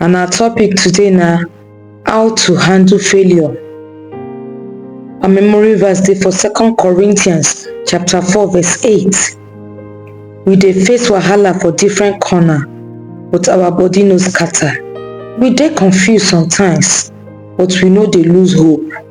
and our topic today na how to handle failure our memory verse dey for second corinthians chapter four verse eight we dey face wahala for different corner but our body no scatter we dey confused sometimes but we no dey lose hope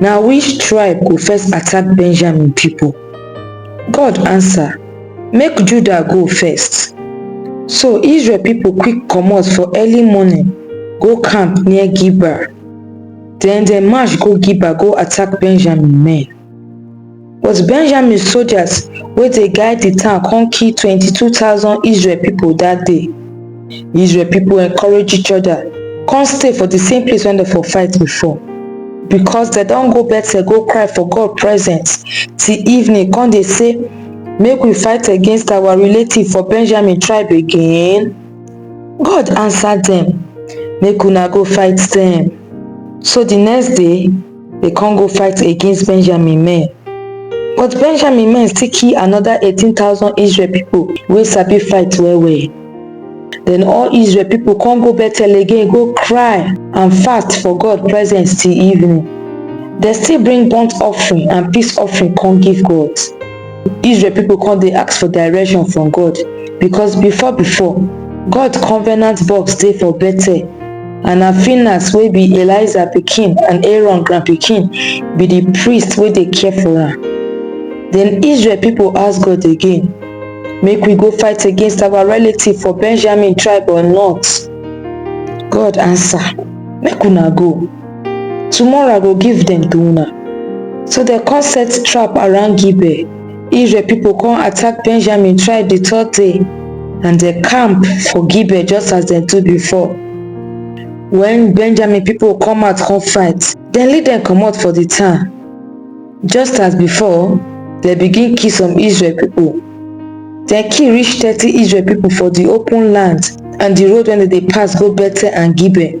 Na which tribe go first attack Benjamin people? God answer, Make Judah go first. So Israel people quick comot for early morning go camp near Geba. Then dem march go Geba go attack Benjamin men. But Benjamin sojas wey dey guide di town kon kill twenty two thousand Israel pipol dat day. Israel pipol enkorage each oda kon stay for di same place wen dem for fight before, bikos dem don go Bethel go kry for God presence till evening kon dey sey, Make we fight against awa relative for Benjamin tribe again? God ansa dem, Make una go fight dem. So di next day. Dey con go fight against Benjamin men. But Benjamin men still kill another eighteen thousand Israel people wey sabi fight well well. Then all Israel people con go Bethel again go cry and fast for God presence till evening. Dem still bring burnt offering and peace offering con give God. Israel people come dey ask for direction from God because before before, God covenant box dey for Bethel and na Phinehas wey be Eliza pikin and Aaron grand pikin be the priest wey dey care for am. Then Israel people ask God again, make we go fight against our relative for Benjamin tribe or not? God answer, make una go. Tomorrow I go give dem to una. So dem come set trap around Gibeah. Israel people come attack Benjamin tribe the third day and dem camp for Gibeah just as dem do before. When Benjamin people come out come fight, dem lead dem comot for the town. Just as before, dem begin kill some Israel people. Dem kill reach thirty Israel people for the open land and the road wey dem dey pass go Bethel and Gibeah.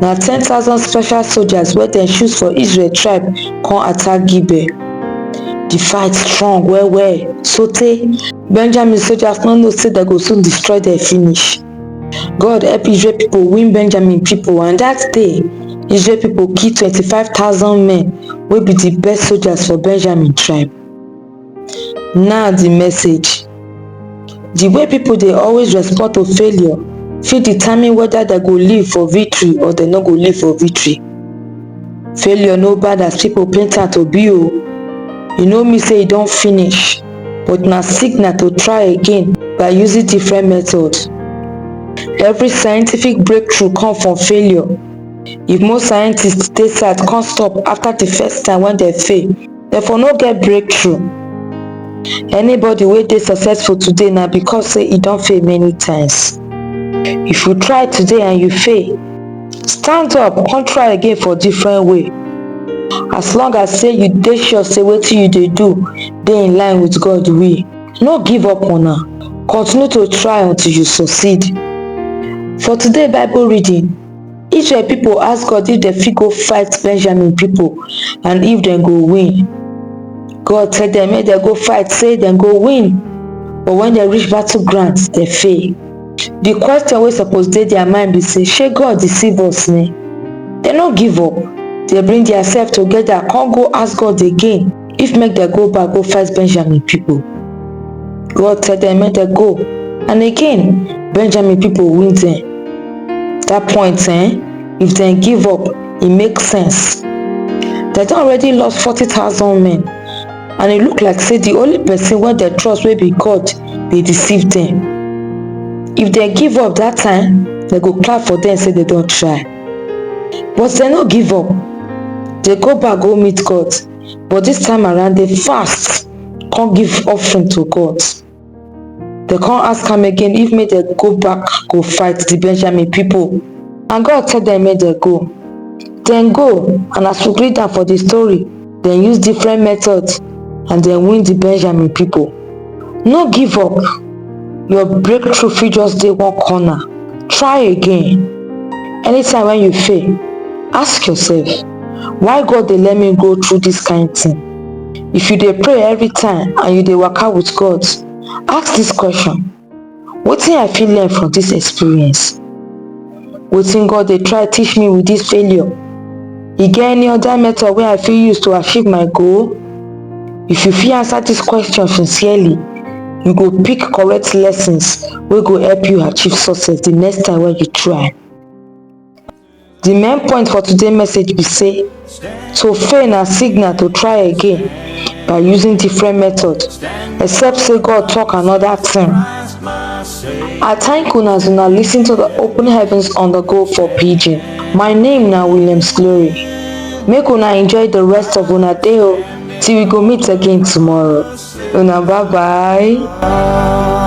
na ten thousand special soldiers wey dem choose for israel tribe come attack gibeah di fight strong well well sotey benjamin soldiers no know say dem go soon destroy dem finish god help israel pipo win benjamin pipo and dat day israel pipo kill twenty five thousand men wey be di best soldiers for benjamin tribe Now the message. The way people dey always respond to failure fit determine whether dem go live for victory or dem no go live for victory. Failure no bad as people paint am to be o. E no mean say e don finish but na signal to try again by using different method. Every scientific breakthrough come from failure. If most scientist dey sad come stop after the first time wey dem fail, dem for no get breakthrough anybody wey dey successful today na because say e don fail many times if you try today and you fail stand up come try again for different way as long as say you dey sure say wetin you dey do dey in line with god will no give up on am continue to try until you succeed for today bible reading Israel pipo ask God if dem fit go fight Benjamin pipo and if dem go win. God tell dem make dem go fight say dem go win but wen dem reach battle ground dem fail. Di question wey suppose dey dia mind be say shey God deceive us ni? Dem no give up, dem bring diasef togeda kon go ask God again. if make dem go back go fight benjamin people god tell dem make dem go and again benjamin people win dem that point eh if dem give up e make sense dem don already lost forty thousand men and e look like say the only person wey dem trust wey be god dey deceive dem if dem give up that time dem go clap for dem say dem don try but dem no give up dem go back go meet god but dis time around dem fast come give offering to God. Dem come ask am again if make dem go back go fight the Benjamin people and God tell dem make dem go. Dem go and as we read am for the story, dem use different methods and dem win the Benjamin people. no give up your breakthrough fit just dey one corner try again anytime when you fail ask yourself why god dey let me go through this kind thing if you dey pray every time and you dey waka with god ask this question Wetin I fit learn from dis experience? Wetin God dey try teach me with dis failure? E get any other method wey I fit use to achieve my goal? If you fit answer dis question sincerely, you go pick correct lessons wey go help you achieve success the next time wey you try. Di main point for today message be say to fail na signal to try again by using different method except say God talk another thing. I thank una as una lis ten to the open heavens on the go for pidgin. My name na Williams Glory. Make una enjoy the rest of una day o till we go meet again tomorrow. Una bye bye.